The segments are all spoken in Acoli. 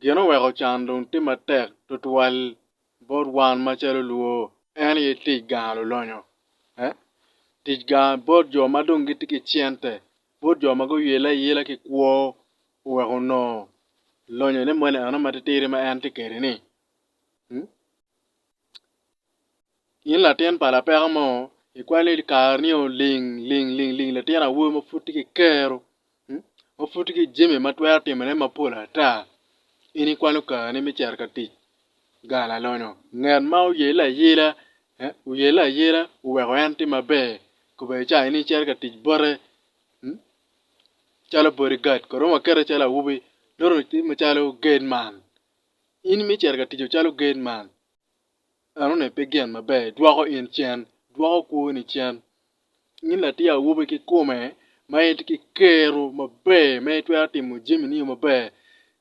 Gin oweko can dong tye matek tutwal bot wan macalo lwo en aye tic gang lulonyo eh tic gang bot jo ma dong gitye ki cente bot jo ma guyelle ayela ki kwo oweko nongo lonyone moni eno ma titidi ma en tye kwede-ni. In latin pa lapeko mo, ikwai ni kare-ni oling ling ling ling latin awobi ma pud tye ki kero, ma pud tye ki jami ma twero timone mapol ata. In ikwano kare-ni me cito ka tic gang lalonyo? Ngat ma oyelle ayela, oyelle ayela oweko en tye maber kobedi ca in icito ka tic bote calo body guard kong romo wakette calo awobi dong oti macalo gateman. In mi cito ka tico calo gate man, enone pe gin maber dwoko in cen, dwoko kwoni cen. In latin awobi kikome ma itye ki kero maber ma itwero timo jamini yo maber,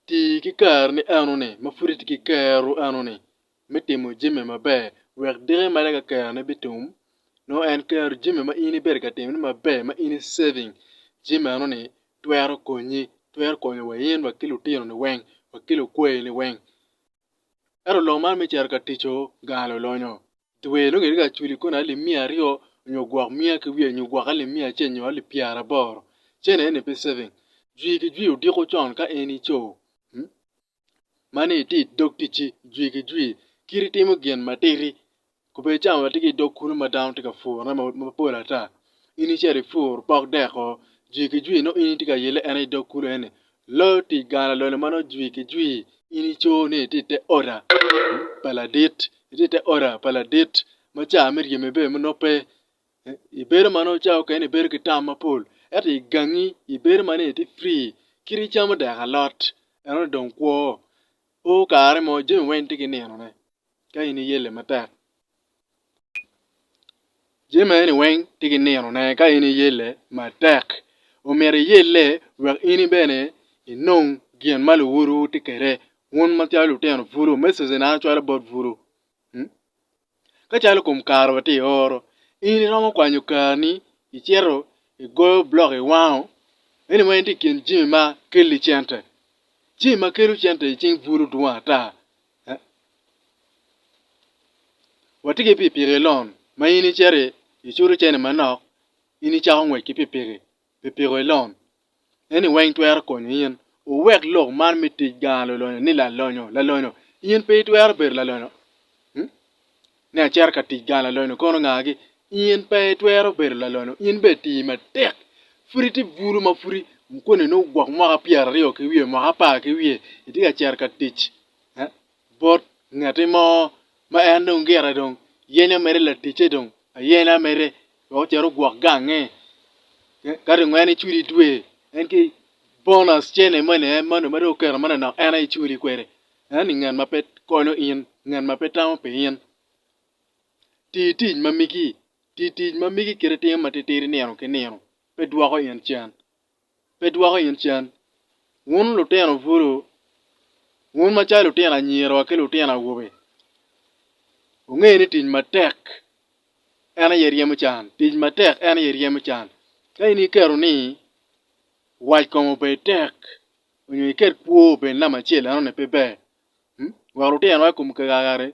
ti ki kareni enoni ma pud itye ki kero enoni me timo jami maber wek diki mere ka kerone bitum nongo en kero jami ma in ibedo ka timone maber ma in i saving jami enoni twero konyi, twero konyo wa in wa ki lutinoni weng, wa ki lukwayini weng. Ento lok man me cito ka tico gang lolonyo, dwe nongo itye ka culi koni alip miya aryo nyo gwok miya ki wiye nyo gwok alip miya acel nyo alip pyeraboro, cen eni pe saving. Jwi ki jwi odiko con ka in ico. ma ni itye i dog ticci jwi ki jwi kit itimo gin matidi kubed cawa watye ki i dog kulu ma dano tye ka purone mapol ata in icito ipur pok deko jwi ki jwi nongo in itye ka yelle en aye i dog kulu eni loyo tic gang lalone ma nongo jwi ki jwi in icoo ni itye i te oda pa ladit itye i te oda pa ladit ma ca ma iryeme bene nongo pe I bedo ma nongo cawa okene ibedo ki tam mapol ento i gangi ibedo ma nongo itye free kit icamo dek alot enoni dong kwo o kare mo jami weng tye ki ninone ka in iyelle matek jami ma eni weng tye ki ninone ka in iyelle matek omyero iyelle wek in bene inong gin ma luwodu tye kwede wun macalo lutino bulu me sosone calo bot bulu. Ka calo kom kare watye i oro, in iromo kwanyo karni icito igoyo blok iwango anyway in tye i kin jami ma kelli cente. Jami ma kelo cente i cing buto dwong ata. Watye ki pikipiki lon ma in icito icuto cene manok in icako ngwec ki pikipiki. pi piko i lon. Eni weng twero konyo in wuwek lok man me tic gang lolonyo ni lalonyo. Lalonyo? In pe itwero bedo lalonyo? Hmm? Ni acito ka tic gang lalonyo kono ngagi? In pe itwero bedo lalonyo. In be ti matek. Pud iti bulu ma pudi koni ni ogwok mwaka pyera ryo ki wiye, mwaka apar ki wiye. Iti ka cito ka tic. Eh? bot ngati mo ma en dong gire dong yenyo mere laticce dong ayena mere wek ocito ogwok gange ka dong en icwidi dwe en ki bonus cene moni en moni ma dong oketo moni dok en aye icwidi kwede ento ngat ma pe konyo in ngat ma pe tamo pi in ti tic ma migi ti tic ma migi kit itim matitidi nino ki nino pe dwoko in cen pe dwoko in cen. Wun lutino bulu, wun macalo lutino anyira wa ki lutino awobe, wunge ni tic matek en aye ryemo can, tic matek en aye ryemo can. Ka in iketo ni wac kom obed tek nyo iket kwo obed namba acel enoni pe ber. Wek lutino wa i kom kakare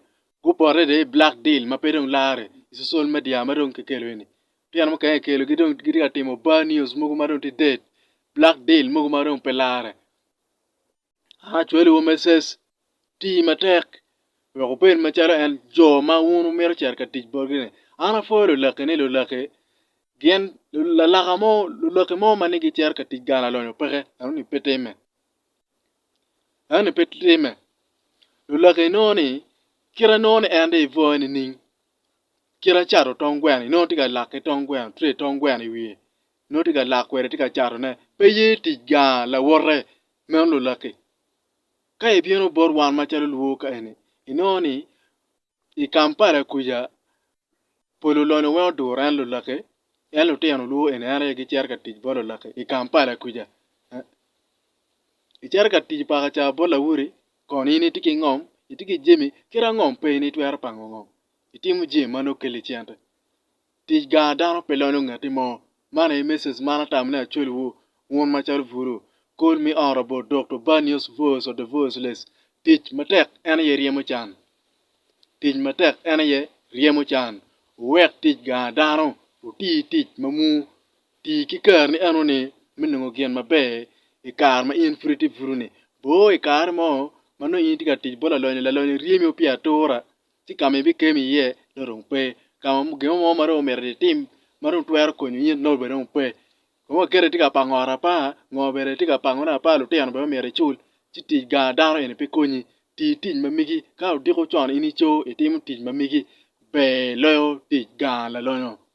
gupot adada i black deal ma pe dong lare i social media ma dong kikelo eni. Pien mukene kikelo ki dong gitye ka timo bar news mogo ma dong tye dead, black deal mogo ma dong pe larre. An acwalowu me ses, ti matek wek wubed macalo en jo ma wun wumito cito ka tic botgi-ni. An apwoyo lulakki ni lulakki gin lalaka mo lulakki mo ma ni gicito ka tic gang lalonyo peke eno-ni pe timme eno-ni pe timme lulakki nongo-ni kite nongo ni en dong ibwoyo nining kit acato tong gweno ni nongo tye ka lake tong gweno tray tong gweno i wiye nongo tye ka lak kwede tye ka cato ne pe ye tic gar lawote meno lulaki ka i bino bot wan macalo luo ka eni i nongo ni i Kampala kuca pu lulonyo weng oduro en lulaki en lutino luo eni en aye gicito ka tic bot lulaki i Kampala kuca i cito ka tic paka ca bot lawoti Kono in itye ki ngom, itye ki jami, kit angom pe in itwero pango ngom? Itimo jami ma nongo kelli cente. Tic gar dano pe lonyo ngatti mo. Man aye message man atamo ni acwaliwu, wun macalo buru, call me out about Doctor Banios voice of the voiceless. Tic matek en aye ryemo can. Tic matek en aye ryemo can. Wuwek tic gar dano oti tic ma muu. Ti ki kareni enoni me nongo gin maber i kare ma in pud itye buru-ni. Bo i kare mo ma nongo in itye ka tic bot lalonyo, lalonyo oryemi pii atura ci ka ma ibikemo iye nongo dong pe. Ka ma gin mo ma dong omyero itim ma dong twero konyo in nongo bene dong pe. Kong waketi tye ka pango ot apa, ngo bene itye ka pangone apa, lutino bene omyero icul. Ci tic gang dano eni pe konyi. Ti tic ma megi ka odiko con in ico itimo tic ma megi ber loyo tic gang lalonyo